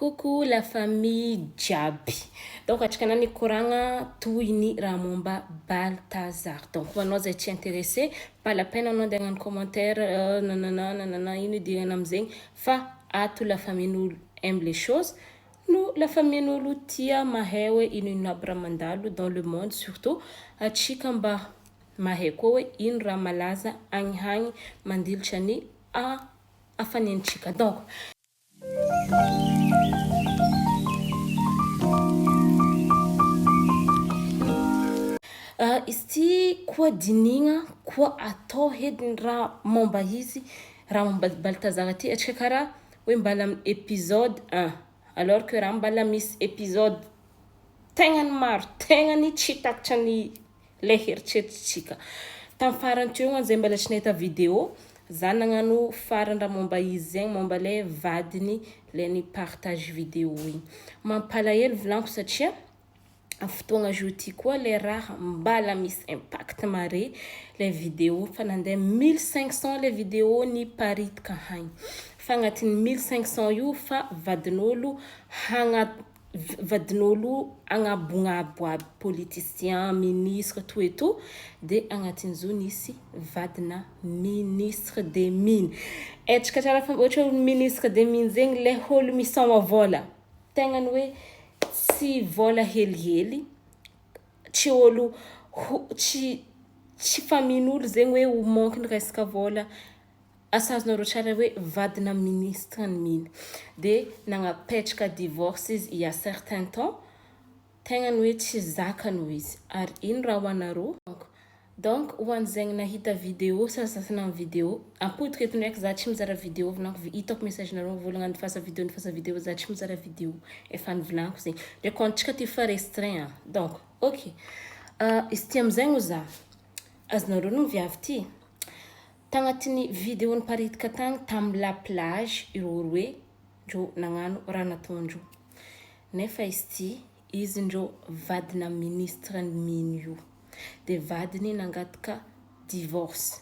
Coucou la famille jiaby. Donc atrikana ny koragna toy ny raha momba Balthazar. Donc ho anao zay tsy interesse, pas la peine anao andeha hagnano commentaire nanana nanana ino idirana amin'izegny fa ato la famille n'olo aime les choses no la famille n'olo tia mahay hoe ino ino aby raha mandalo dans le monde surtout atsika mba mahay koa hoe ino raha malaza agny hagny mandilitra ny a hafanentsika donc Ah izy ty koa dinigna koa atao edy ny raha momba izy raha momba baltazar ty atrika kara hoe mbala episode un alors que raha mbala misy episode tegnany maro tegnany tsy takatry ny ilay heritreritrintsika. Tamin'ny farany teo an zay mbola tsy nahita video za nagnano farany raha momba izy zegny momba le vadiny le ny partage video igny. Mampalahelo volaniko satria fotoagna jour ty koa le raha mbala misy impact mare le video fa nandeha mille cinq cent le video niparitka hagny fa agnatin'ny mille cinq cent io fa vadin'olo hagna vadin'olo agnabognaboa aby politician, ministre tout et tout de agnatin'zo nisy vadina ministre de mine etrka tsara fa ohatry hoe olo ministre de mine zegny le olo misaoma vola tegnany hoe tsy vola helihely tsy olo tsy tsy fa mino olo zegny hoe ho manky ny resaka vola. asa azonareo tsara hoe vadina ministre ny mino dia nagnapetraka divorce izy il ya certain temps tegna ny hoe tsy zakany hoy izy ary ino raha ho anareo donc ho an'izegny nahita video sasasasany amin'ny video ampodiko eto ndraiky za tsy mizara video vinako vi hitako message nareo mivôlagna andifasa video andifasa video za tsy mizara video efa nivolaniko zegny ndraiky koa antsika ty fa restreint an donc ok izy ty amizegny oza Azonareo ny viavy ty. Tagnatiny video niparitika tagny tam la plage ireo roe ndreo nagnano raha nataondreo. Nefa izy ty izy ndreo vadina ministre ny mino io. De vadiny nangataka divorce.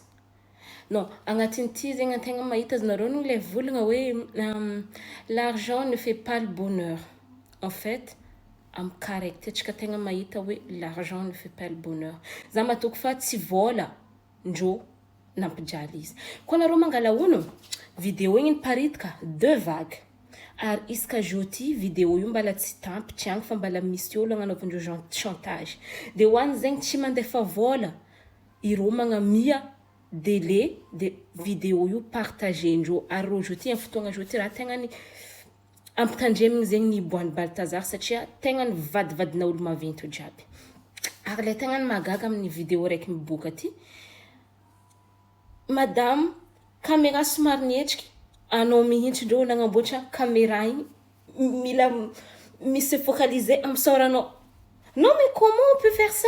Non, agnatin'ity zegny antegna mahita aznareo no le volagna hoe l'argent ne fait pas le bonheur en fait amy cas raiky ty antsika tegna mahita hoe l'argent ne fait pas le bonheur za matoky fa tsy vôla ndrô nampijaly izy koa nareo mangala ono video igny niparitka deux vagues ary isaka jour ty video io mbala tsy tampitry agny fa mbala misy olo agnanaovandreo gen- chantage de hoany zegny tsy mandefa vôla ireo magnamia dele de video io partager ndreo ary reo zao ty am fotoagna zao ty ra tegna ny ampitandremigny zegny ny hiboahan'i Baltazar satria tegna ny vadivadina olo maventy jiaby ary le tegna ny mahagaga aminy video raiky miboaka ty madame camera somary nihetriky anao mihintsy ndreo nagnamboatra camera igny mila mi se focaliser am fisaoranao non mais comment on peut faire ça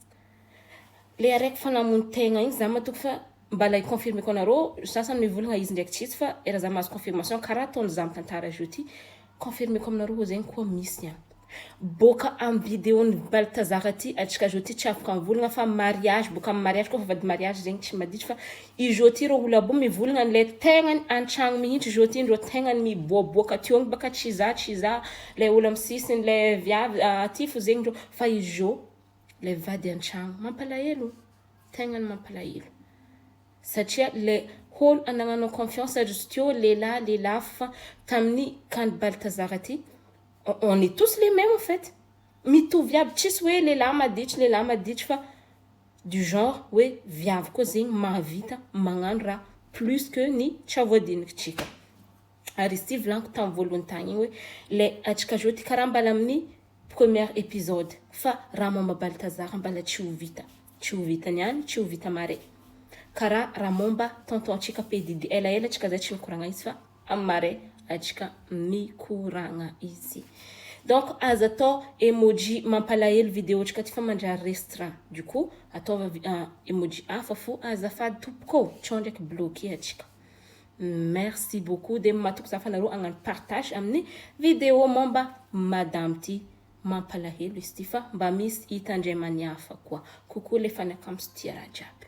Le araiky fa namono tegna igny za matoky fa mbala i confirme ko anareo sasany mivolagna izy ndraiky tsy izy fa efa za mahazo confirmation kara ataony za mitantara azy io ty confirme ko aminareo oa zegny koa misy an. Boka am video ny baltazar aty atsika zao ty tsy afaka mivolagna fa mariage boka am mariage ko fa vady mariage zegny tsy maditry fa izao ty reo olabo mivolagna le tegnany antragno mihitsy zao ty ndreo tegnany miboaboaka teo baka tsy za tsy za le olo am sisiny le viavy aty fo zegny ndreo fa izao. ilay mivady an-tragno. Mampalahelo, tegna ny mampalahelo. Satria le holo anagnanao confiance ry zokio lehilahy lehilahy fa tamin'ny kany Baltazar ty on est tous les memes en fait. Mitovy iaby tsisy hoe lehilahy maditry lehilahy maditry fa du genre hoe viavy koa zegny mahavita magnano raha plus que ny tra voadinikitrika. Ary izy ty volaniko tam voalohany tagny igny hoe ilay atrikazao ty karaha mbala amin'ny première episode fa raha momba Baltazar mbala tsy ho vita. Tsy ho vita niany, tsy ho vita mare. Karaha raha momba tonton antsika PDD elaela tsika zay tsy mikoragna izy fa am mare atsika mikoragna izy. Donc aza atao emoji mampalahelo video tsika ty fa mandrary restra. Du coup ataova vi- emoji hafa fo azafady tompoko ô. Tsao ndraiky bloquer atsika. Merci beaucoup de matoky za fa nareo agnano partage aminy video momba madame ty mampalahelo izy ty fa mba misy hita ndray maniafa koa coucou le fanakams tia raha jiaby.